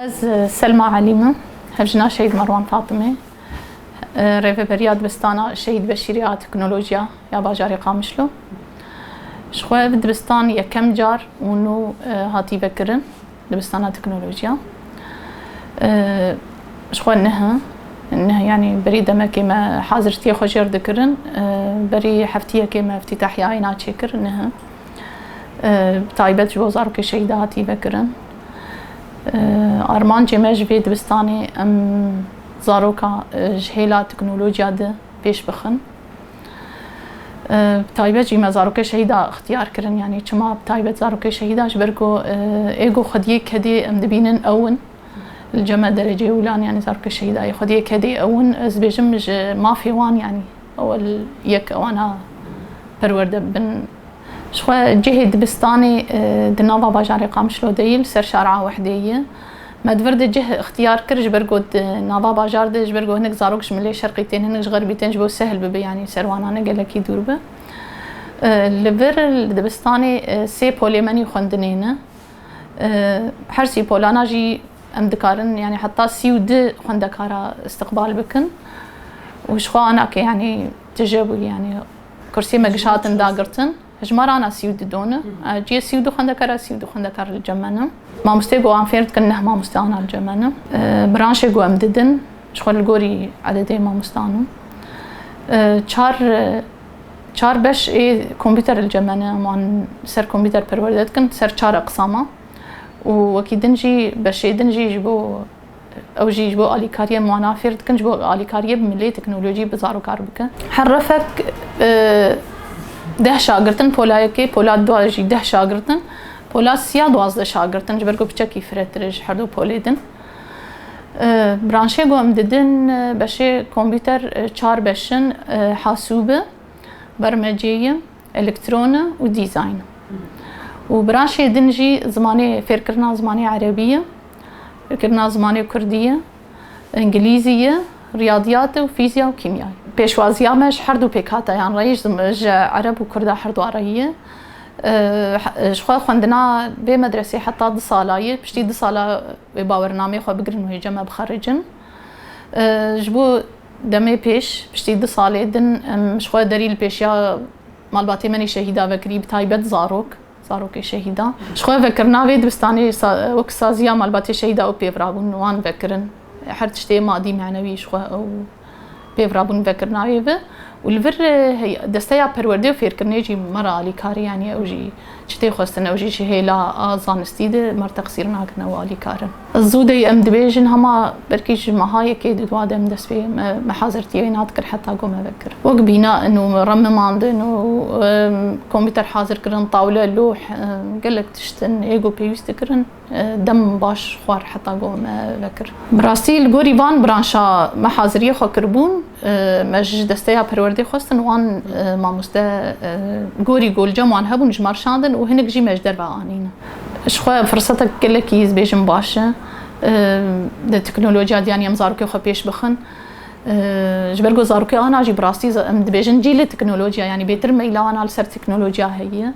Ez Selma Elîm im. Hevjina Şehîd Merwan Fatimê, Rêveberiya Dibistana Şehîd Beşîrî a Teknolojiya ya Bajarê Qamişlo. Ji xwe ev dibistan yekem car û nû hatî vekirin. Dibistana teknolojiya ji xwe niha niha yanî berî demekê me hazirtiyê xwe jêr dikirin. Berî heftiyekê me îftîtahîya înan çêkir niha. Bi taybet ji bo zarokê şehîda hatî vekirin. Armancê me ji vê dibistanê em zaroka ji hêla teknolojiya di pêş bixin. Bi taybet jî me zarokê şehîda ixtiyar kirin. Yanî çima bi taybet zarokê şehîda ji ber ku ê ku xwediyê kedê em dibînin ew in. Li cem e dereceyê wilan yanî zarokê şehîdayê xwediyê kedê ew in. Ez dibêjim ji mafê wan yanî ewil yek ewana perwerde bibin. Jixwe cihê dibistanê di nava bajarê Qamişlo deyî li ser şara Wehdeyê ye. Me di vir de cih îxtiyar kir ji ber ku di nava bajar de ji ber ku hinek zarok ji milê şerqî tên hinek ji xerbî tên ji bo sehl bibe yanî serwanane gelekî dûr be. Li vir li dibistanê sê polê menî xwendinê ne. Her sî polana jî em dikarin yanî heta sî û du xwendekara îstiqbal bikin û jixwe anake yanî tije bû yanî kursiyê me giş hatin dagirtin. Hejmara ana sî û du don e. Ciyê sî û du xwendekar e, sî û du xwendekar li cem me ne. Mamosteyê ku wan fêr dikin neh mamoste ana li cem me ne. Branşê ku em didin ji xwe li gorî ededê mamostan in. Çar çar beş ê kompîter li cem me ne. Em wan li ser kompîter perwerde dikin, li ser çar eqsama û wekî din jî beşê din jî ji bo Ew jî ji bo alîkariyên wana fêr dikin, ji bo alîkariyê bi milê teknolojî bi zaro kar bikin. Her refek deh şagird in, pola yekê, pola du jî deh şagird in, pola sî ya duwazdeh şagird in, ji ber ku piçekî firetir e ji herdu polê din. Branşê ku em didin beşê kompîter çar beş in, hasûbi, bermecê ye. Elektrona û dîzayn. Û biraşê din jî zimanê fêrkirina zimanê erebî ye, fêrkirina zimanê kurdî ye, îngilîzî ye, riyadîyat û fîzya û kîmya ye. Pêşwaziya me ji herdû pêkhateyan re ye, ji ereb û kurda herdûa re ye. Ji xwe xwendina bê medresê heta du sala ye. Piştî du sala wê bawernameyê xwe bigirin û hêja me bixericin. Ji bo Demê pêş, piştî du salê din em ji xwe derî li pêşiya malbatê me nê şehîda vekirî bi taybet zarok, zarokê şehîda. Ji xwe vekirina vê dibistanê wek saziya malbatê şehîda ew pêvirabûn wan vekirin. Her tiştê madî manewî ji xwe ew pêvirabûn vekirina wê bi û li vir desteya perwerdê û fêrkirinê jî me re alîkarî yanî ew jî Çi tê xwestin ew jî ji hêla zanistî di mar teqsîr nakin ew alîkar in. Zû dey em dibêjin hema belkî ji meha yekê di dwa de em dest pê me me hazirtîyê wê nadikir heta ku me vekir wek bîna in û remimandin û komputer hazir kirin tawle lûh gelek tişt in ê ku pêwîst dikirin. Dem baş xwar heta goh me vekir. Bi rastî li gorî van branşa me haziriyê xwe kiribûn, me ji desteya perwerdê xwestin wan mamoste gorî golcem wan hebûn ji me re şandin û hinek jî me ji derve anîn. Ji xwe firsetek gelekî ez bêjim baş e di teknolojiya diyanî em zarokê xwe pêş bixin. Ji ber ku zarokê ana jî bi rastî em dibêjin cîlê teknolojiya yanî bêtir meyla wana li ser teknolojiya heye.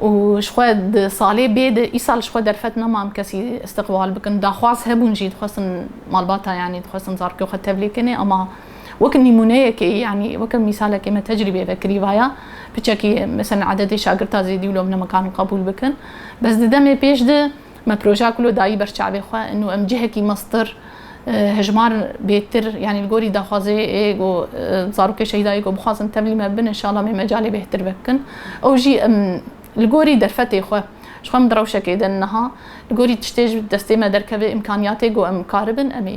û ji xwe di salê bê de îsal ji xwe derfet neman kesî îstiqbal bikin. Daxwaz hebûn jî dixwestin malbata yanî dixwestin zarokê xwe tevlî kinê ama wek nîmûneyekê yanî weke mîsalekê me tecrîbê vekirî vaya piçekî meselên ededê şagirta zêdî û lomnemekan qebûl bikin. Bes di demê pêş de Me projeya ku lo dayî ber çavê xwe û em cihekî meztir hijmar bêhtir yanî li gorî daxwazê yê ku zarokê şehîda yê ku bixwazin tevlî me bibin înşallah em ê mecalê bêhtir vebikin. Ew jî em li gorî derfetê xwe ji xwe em di rewşekê de niha li gorî tiştê ji destê me derkeve îmkaniyatê ku em karibin em ê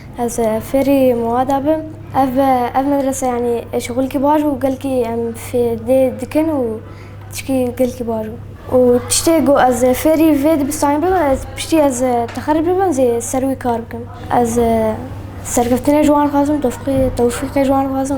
Ez fêrî Muada bim. Ev ev medrese yanî eşxûlkî baş û gelkî em fêdê dikin û tişkî gelkî baş bû. Û tiştê ku ez fêrî vê dibistanê bim ez piştî ez texerij bibim zî ser wî kar bikim. Ez serkeftinê ji wan dixwazim, tewfîqê ji wan dixwazim.